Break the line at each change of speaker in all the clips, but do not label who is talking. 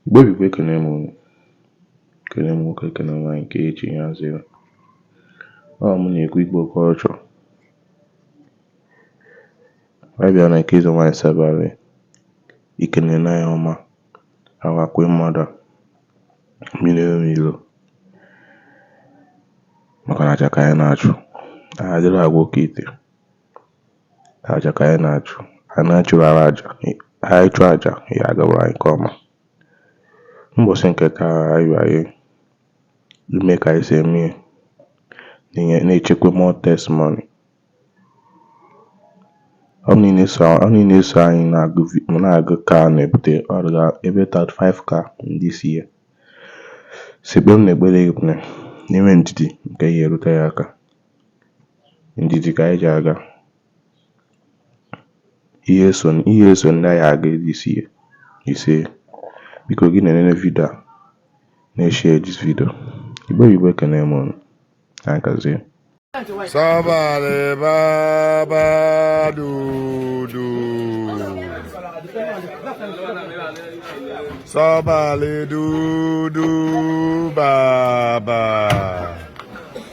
Igbo Igbo ekene m unu ekene m nwoke ekene nwaanyị nke echi ya zere ọ mụ na-ekwu Igbo culture anyị bịa na nke eze nwaanyị sabalị ikene na ya ọma awakwe mmadụ mmiri enwe ilo maka na aja ka anyị na-achụ anyị adịrọ agwọ oke ite Aja ka anyị na-achụ. Anyị na-achụrụ ọra aja. Anyị chụọ aja, ya agawara anyị nke ọma. Mbọsị nke taa anyị bịa ime ka anyị si eme ihe na-enye na-echekwa more testimony. Ọ bụ niile so ọ niile so anyị na-agụ vi- ma na-agụ ka a na-ebute ọrịa ebe 35k this year. Sekpere na ekpere ekpere na-enwe ndidi nke ya erute ya aka. ndidi ka anyị ji aga ihe eso ihe eso ndị anyị aga this year ise biko gị na-enene video a na-eshare this video Igbo Igbo ekene m unu na nkazie
Sabalị baba dudu. Sabalị dudu baba.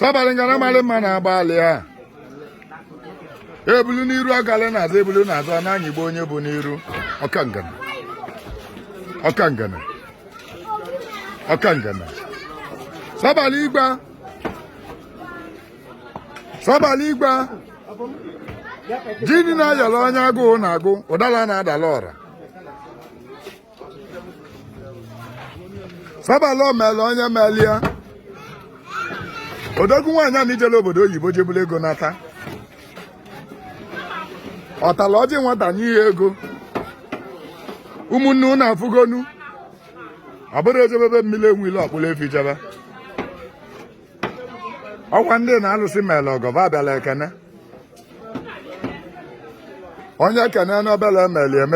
sabalị ngana malị mma na agbalị a ebulu n'iru agalị na azụ ebulu na azụ a na-anyịgbu onye bu n'iru ọka ngana ọka ngana ọka ngana sabalị igba sabalị igba jini na-ayọrọ onye agụụ na-agụ ụdala na-adalụ ọra Sabalị omele onye mele ya odogwu nwaanyị a na-ejelụ obodo oyibo je bulu ego nata ọtala ọjị nwata nye ya ego ụmụnne unu afụgonu ọ bụrụ e jebe be mmiri enwe ilo a kpụlụ efi jebe ọkwa ndị na-alụsị mele ọgọ abịala ekene onye kene n'obele emeli eme